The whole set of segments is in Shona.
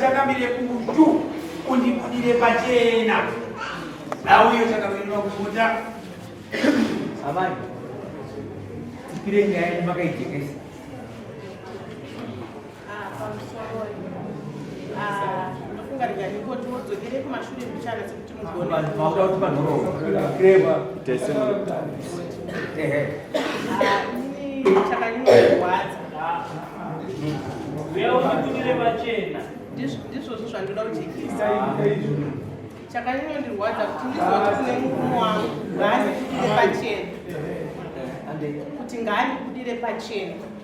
takamire kutu undibudire pachena nauyo takamirira kubuda amai tipire nyaya yemakaijekesa ndizvozvo zvandoda kujekesa chakanyondirwadza kuti ndizoti kune murume wangu ngaandibudire pachena kuti ngaandibudire pachena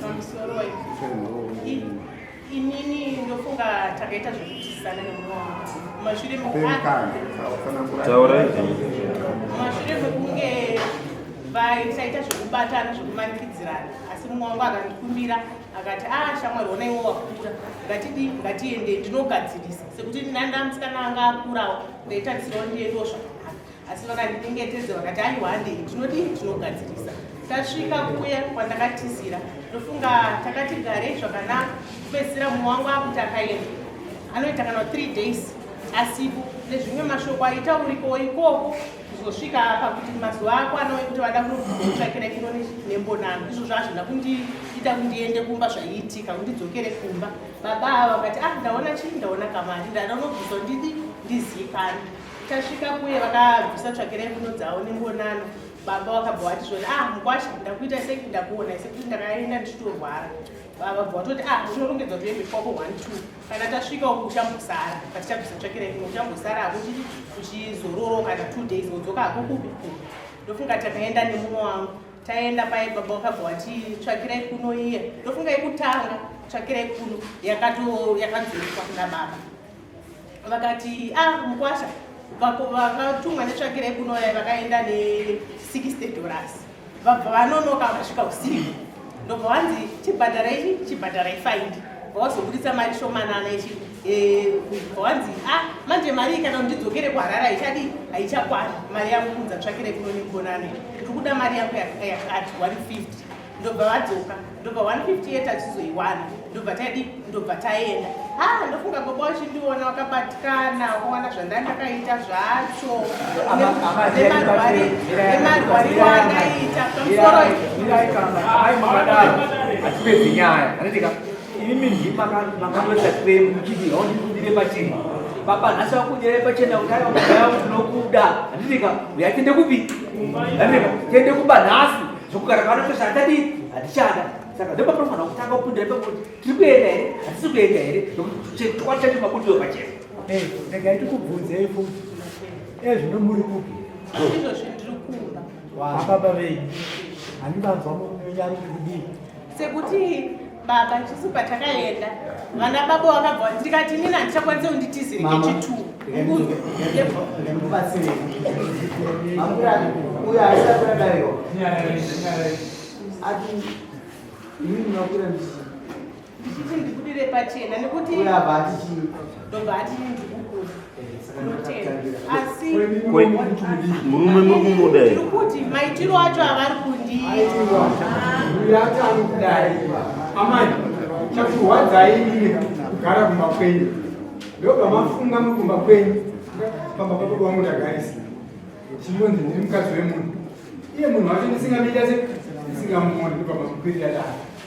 pamusoro inini ndofunga takaita zvekutisana nemumashure mashure mekunge vaisaita zvekubatana zvekumanikidzirana asi mumwe wangu akandikumbira akati a ah, shamwari ona iwo wakura ngatidi ngatiende ndinogadzirisa sekuti nandamsikana anga akurawo ndaitarisirawo ndiendiwo zvakanaka asi vakandidengetedza vakati aiwa handei tinodii tinogadzirisa tasvika kuya kwandakatizira ndofunga takati garei zvakanaka kupedzisira mumwe wangu akuti akaenda anoita kana three days asipo nezvimwe mashoko aita uriko ikoko kuzosvika pakuti mazuva ako anove kuti vada kunotsvakira ino nembonano izvo zvazvina kundiita kundiende kumba zvaiitika kundidzokere kumba baba ava vakati ah ndaona chii ndaona kamari ndada unobvisa ndidi ndizikani tasvika kuye vakabvisa tsvakira imbuno dzavo nengonano baba vakabva vati zvona ah mukwasha ndakuita sei kuti ndakuona ise kuti ndakaenda ndichitorwara baba bva vatoti ah unorongedza kuti uende kwako one two kana tasvika uku uchambosara patichabvisa tsvakira imbuno uchambosara akuti uchizororo kana two days wodzoka hakukupi ndofunga takaenda nemumwe wangu taenda paye baba vakabva vati tsvakirai kuno iye ndofunga yekutanga tsvakirai kuno yakatoyakadzoiswa kuna baba vakati ah mukwasha vatumwa netsvakira yekunouya vakaenda ne 60 dollars vabva vanonoka vasvika usiku ndobva vanzi chibhadhara ichi chibhadhara ifaindi vawazobuditsa mari shomanana ichi eh, vanzi a ah, manje mari kana ndidzokere kuharara ichadi haichakwana mari yangu kunza tsvakira kuno negonane ndiri kuda mari yangu yakati 150 ndobva vadzoka ndobva 158 achizoiwana ndobva taidi ndobva taenda ha ah, ndofunga baba wachindiona wakabatikana waona zvandai ndakaita zvacho nemarwariro andaita pamusoroatipedzi nyaya anendika imimi ndima makandoisa kwemu kuchiti aundikundire pachii baba nhasi wakunyere pachena kudai wakudai unokuda handidika uyatende kupi handidika tende kuba nhasi zvokugara pano chose hatadii hatichada saka ndopatinofanira kutanga kupinda ipapo tiri kuenda here hatisi kuenda here nokuti chokwadi chacho mabudiwo pachena regai tikubvunzei futi ezvino muri kupi izvozvi ndiri kumba ababa venyu handivanzwa munyari kudii sekuti baba tisu patakaenda vana baba vakabva ndikati inini handichakwanise kunditizire kechitu ndikuti ndikudire pachena nekuti ndobva ati ndikukura asi murume muri kumuda here kuti maitiro acho avari kundiayatanokudai amai chakurwadzai ine kugara kumba kwenyu ndobva mafunga muri kumba kwenyu pamba papo kwangu ndagarisa chinonzi ndiri mukadzi wemunhu iye munhu wacho ndisingamita se ndisingamuoni ndobva mamukwirira dai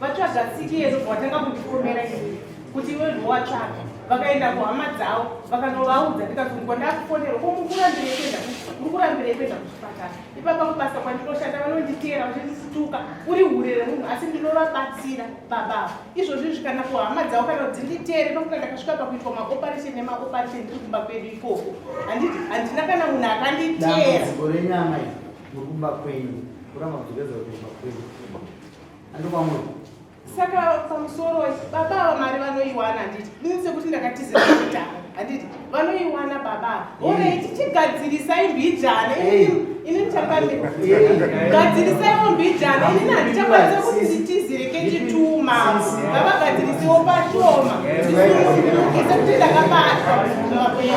vatsvaga tsiki yedu bvatanga kundikomera ii kuti iwe ndowatsvaga vakaenda kuhama dzavo vakanovaudza ndikazungwa ndakufonera ko mukurambireekuenda uri kurambirei kuenda kuchipatara ipapa kubasa kwandinoshanda vanonditeera vachisituka uri hure remunhu asi ndinovabatsira babavo izvozvi izvi kana kuhama dzavo kana kuti nditeere nokuti ndakasvika pakuitwa maoperation nemaoperation ndiri kumba kwedu ikoko handina kana munhu akanditeera renyama iri nokumba kwenyu kuramba kudzokeza kuumba kwenyu saka pamusoro baba ava mari vanoiwana handiti ini sekuti ndakatizira kuita handiti vanoiwana baba orei tichigadzirisai mbijana ini ndichagadzirisaiwo mbijana inini handichakwanisa kuti nditizire kechituma ngavagadzirisewo pashoma ndisungukise kuti ndakabatwa makwena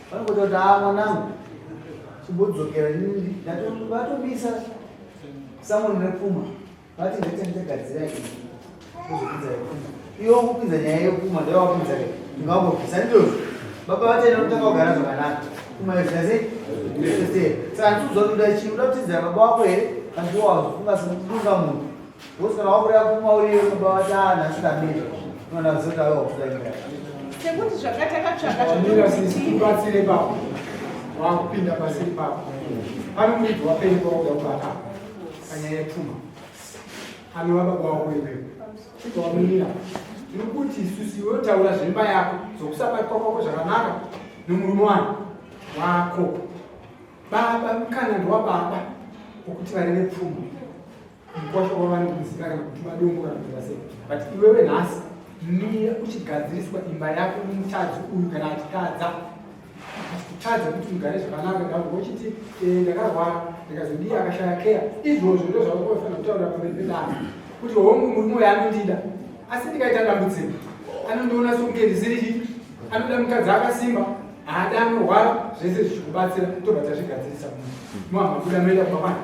Vanokuti haa mwanangu chimbodzokera nini vatomisa samoni repfuma vati ndaita ndichagadzira izvi kuzopinza repfuma iwo kupinza nyaya yepfuma ndawapinza ke ndingambopisa ndizvozvo baba vataenda kutanga kugara zvakanaka pfuma yozvase saka ndikuzoda chii uda kutidzira baba wako here kandiwawazofunga sekunga munhu Wosara wabuda kumwa uriyo kumba vatana asina miro. Unoda kuzota wewe wabuda imba. Sekuti zvakataka tsvaka zvakataka sisi kubatsire baba. Wakupinda pasiri baba. Pane mwidzi wapeni kwakuda kubata. Kanya yepfuma. Kami waba kwako iwe. Chibva wamira. Ndiri kuti isusi iwe utaura zvemba yako zokusabatwa kwako zvakanaka nomurume wangu wako. Baba mukana ndiwababa wokuti vari nepfuma. mkwasha wavane kumusika kana kuti madongo kana kuti vasei but iwewe nhasi mie uchigadziriswa imba yako nomutadzi uyu kana achitadza achikutadza kuti mugare zvakanaka ndakuva uchiti eh, ndakarwara ndikazodii akashaya keya izvozvo ndo zvavakofanira kutaurira pamberi pedana kuti hongu murume uyo anondida asi ndikaita dambudziko anondiona sokunge ndisiri chii anoda mukadzi akasimba haada anorwara zvese zvichikubatsira tobva tazvigadzirisa muhamabuda moenda kumamana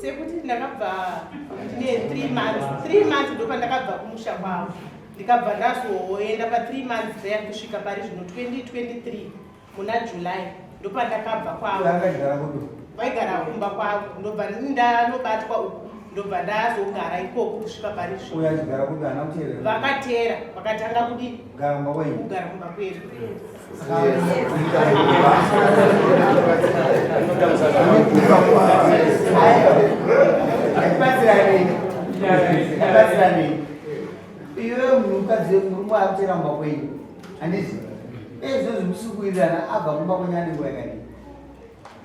sekuti ndakabva ne three months three months ndo pandakabva kumusha kwavo ndikabva ndazoenda pa three months there kusvika pari zvino 2023 muna july ndo pandakabva kwavo vaigara kumba kwavo ndobva ndanobatwa uku ndobva ndazogara ikoko kusvika pari zvino vakateera vakatanga kudii kugara kumba kwedu iwe munhukadzi murume akutera mumba kwenyu handizi ezvo zvimusikuwirirana abva kumba kwenyu anenguva yakadii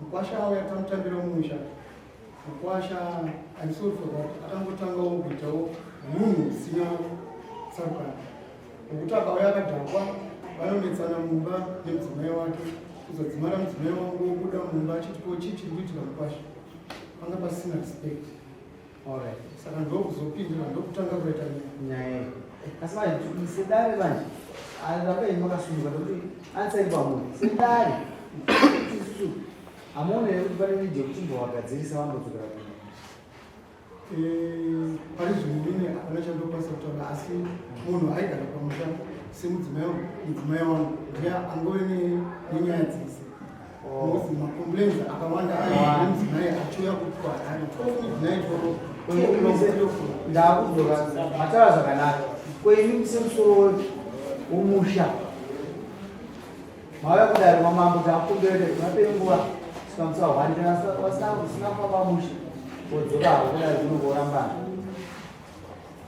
mukwasha avo yatamutambira musha mukwasha aisofoka akangotangawo kuitawo munhu usina tsarukana nokuti akauya akadhakwa vanonetsana mumba nemudzimai wake kuzodzimara mudzimai wangu wobuda mumba achiti ko chii chiri kuitika mukwasha panga pasina respect Alright. Saka ndokuzopindura ndokutanga kuita nyaya iyi. Asi vanhu sedare vanhu arambe makasununguka nokuti ansari pamunhu sedare isusu hamuone here kuti pane nidhi yekuchimbovagadzirisa vambodzokera kuno eh, pane zvinhu mine hapana chandokwanisa kutaura asi munhu aigara pamusha semudzimai mudzimai wangu ndiye angove nenyaya dzese Because ma complaints akawanda anzi naye achiuya kuitwa harare 12 midnight or ndakudzoka matara zvakanaka kwenyu kusemusoro womusha mauya kudari mamambo takumbirete kunape nguva sikamusa hwani kana vasina kufa pamusha wodzoka havo kudari kunokorambana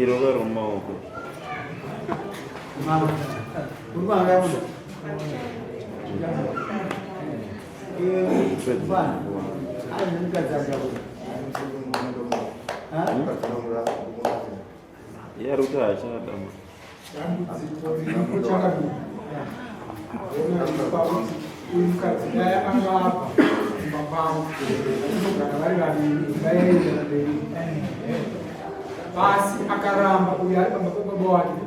irova romaoko yaruta achadama dambudziko riripo chakadini uyu mukadzi dai anga apa kumba kwavo vachizogara vari vaviri vaienda mberi basi akaramba uyo ari pamba pebaba wake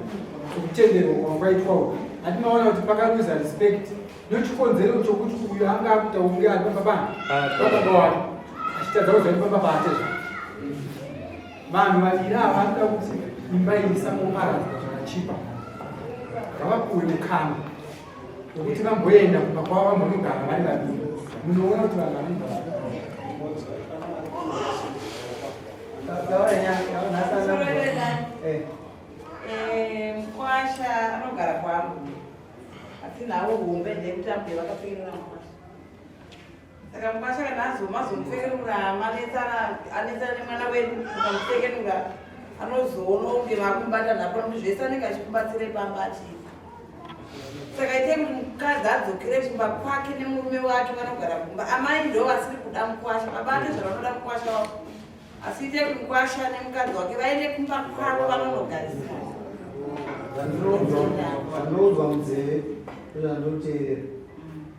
sokutenderwa kwakwaitwa uku ati maona kuti pakaluza respect nochikonzero chokuti uyo anga akuita unge ari pamba bana pababa wake achitadza kuziva kuti pamba paate zvake vanhu vaviri ava vanoda kuti imba iyi isangoparadzwa zvakachipa ngavapuwe mukana wekuti vamboenda kumba kwavo vambonogara vari vaviri munoona kuti vanhu vanoga eh. eh, mkwasha anogara kwangu asi nhau hombe ndekutambwe vakapinira mkwasha saka mukwasha kana azoma azomupfekenura manetsana anetsana nemwana wedu ukamupfekenura anozoona kunge vakumubata napo nokuti zvese anenge achikubatsire pamba achii saka ite kuti mukadzi adzokere kumba kwake nemurume wake vanogara kumba amai ndo vasiri kuda mukwasha vabate zvavanoda mukwasha wavo asi ite kuti mukwasha nemukadzi wake vaende kumba kwavo vanonogarisana vanoudzwa munzeve ndozvandinoteerera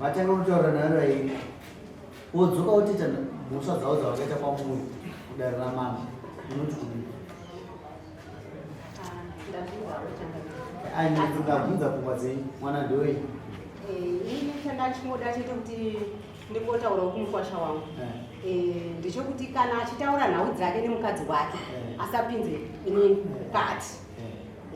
vatanga kutaura naro aini wodzoka wotiita mhosva dzavo dzavakaita kwamuri kudare ramama unoti kudii ndabvunza pfungwa dzenyu mwana ndoyi ini chandachimoda chete kuti ndingotaura kumukwasha wangu eh. eh, ndichokuti kana achitaura nhau dzake nemukadzi wake eh. asapinze ini mukati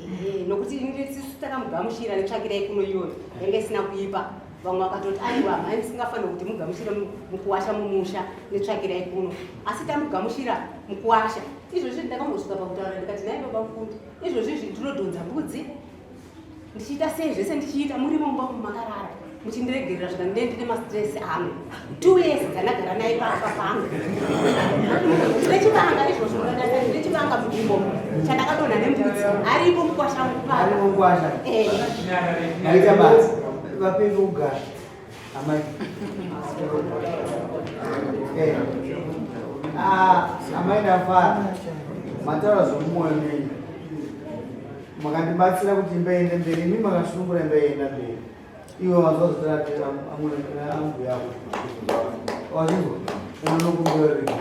Eh, nokuti tisu takamugamuchira netsvakira yekuno iyoyo yanga isina kuipa vamwe vakatoti aiwa mhai musingafanira kuti mugamuchire mukuwasha mumusha netsvakira yekuno asi tamugamuchira mukuwasha izvozvi ndakambosvika pakutaura ndikati naye baba mfundi izvozvi izvi ndinodhonza mbudzi ndichiita sei zvese ndichiita muri mumba umu makarara muchindiregerera zvika ndee ndine mastress angu two years dzandagara naye papa pangu ndechivanga izvozvo ndechivanga mudimbo chandakadonha nemudzi aripo mukwasha mukwasha eh. aita basa vapinda kugara Amai. Eh. Ah, amai ndafara. Mataura zvomumoyo menyu. Makandibatsira kuti mbeende mberi, imi makashungura mbeenda mberi. Iwe wanzwa zvotaratira ambuya ako. Wazvinzwa? Unonokumbira rinhi?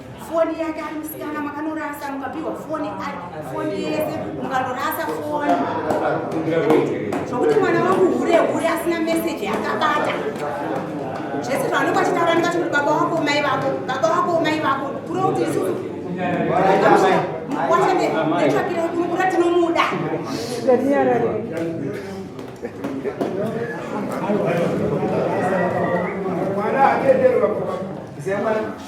foni yake ari musikana makanorasa mukapiwa foni foni yese mukanorasa foni zvokuti mwana wangu hure hure asina meseji yakabata zvese zvavanenge vachitaura ndikati kuti baba wako umai vako baba wako umai vako kuro kuti isusu wachanetsvakirai kunokura tinomuda Thank you.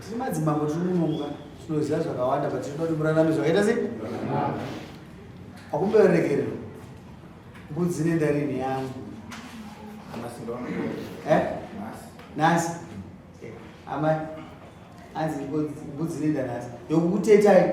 tiri madzimambo tiri munomuka tinoziva zvakawanda but tinoda kuti murarame zvakaita sei akumbererekere mbudzi nendarini yangu eh? nhasi eh, amai anzi mbudzi nendanhasi yokukutetai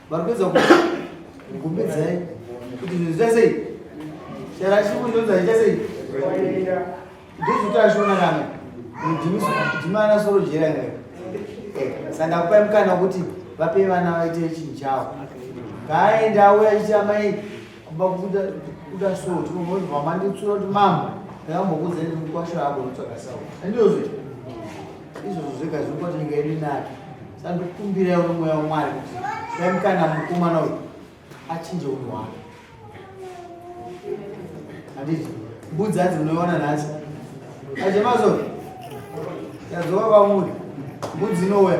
Varikuedza kugumbedzai kuti zvinhu zviita sei? Chero achikunyudza zviita sei? Ndozvikuti ashona kana mudhimana soro jera ine. Saka ndakupai mukana wekuti vape vana vaite chinhu chavo. Ngaaende auya achiti amai kumba kuda so tinomboziva manditsura kuti mama ndakambokudzai nemukwasha ako ndotsvaka sau. Handizvozvo? izvozvo zvega zviri kuti nyika yedu inake saka ndikukumbirawo nomweya wamwari kuti dai mukana mukomana uyu achinje unhu hwake handiti mbudzi hanzi munoiona nhasi achemazo yadzova kwamuri mbudzi inouya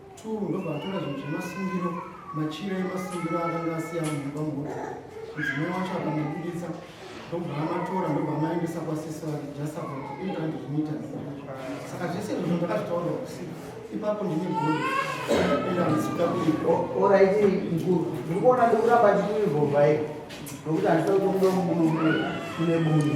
2 ndobva atora zvinhu zvemasungiro machira emasungiro akanga asiya munhu pamhoto mudzimai wacho akamabuditsa ndobva amatora ndobva amaendesa kwasisi vake just about 800 meters saka zvese izvozvo ndakazvitaura usiku ipapo ndine godo enda ndisika kuiko oraiti mkuru ndiri kuona ndikuramba ndichiivhovhaiko nokuti handisa kutomuda mune bunhu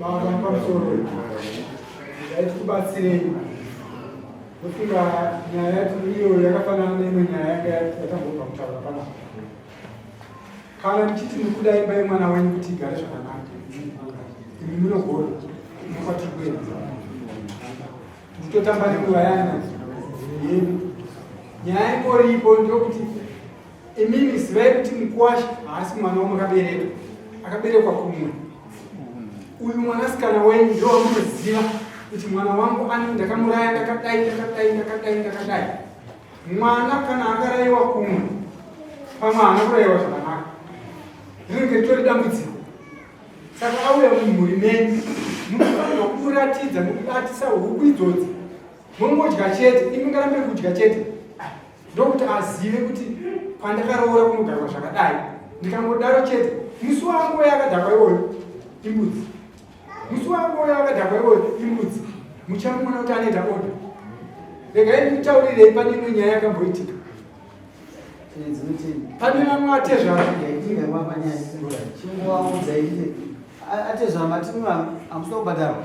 baba pamusoro dai tikubatsirei ndofunga nyaya yacho iyo yakafanana neimwe nyaya yanga yatambobva kutaura panapa kana muchiti mukuda imba yemwana wenyu kuti igare zvakanaka imi munogona munokwatiri kuenda nditotamba nenguva yana yenu nyaya ingoripo ndokuti Imimi zivai kuti mukwashi haasi mwana wamakabereka, akaberekwa kumwe. Uyu mwanasikana wenyu ndo wamunoziva kuti mwana wangu ani ndakamuraya ndakadai ndakadai ndakadai ndakadai. Mwana kana akaraiwa kumwe, pamwe haana kuraiwa zvakanaka, rinenge ritori dambudziko. Saka auya mumhuri menyu, munofanirwa kumuratidza nokubatisa huku idzodzi, mongodya chete, imi ngarambe kudya chete ndokuti azive kuti kwandakaroora kunogarwa zvakadai ndikangodaro chete musi wangu uye akadhakwa iwoyo imbudzi musi wangu uye akadhakwa iwoyo imbudzi muchamuona kuti anoita oda regai ndikutaurirei pane imwe nyaya yakamboitika pane vamwe atezvaaatezvaamatinoamusina kubhadharwa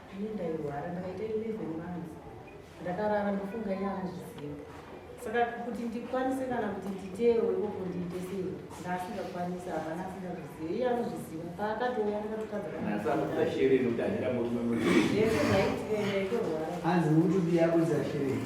ini ndairwara ndakaita 11 months ndakarara ndofunga iye anozviziva saka kuti ndikwanise kana kuti nditeerwe ikoko ndiite sei ndaasingakwanisi hapana asingazviziva iye anozviziva paakatouya ndakatotadzaaaanzi mutubi yakudza shireni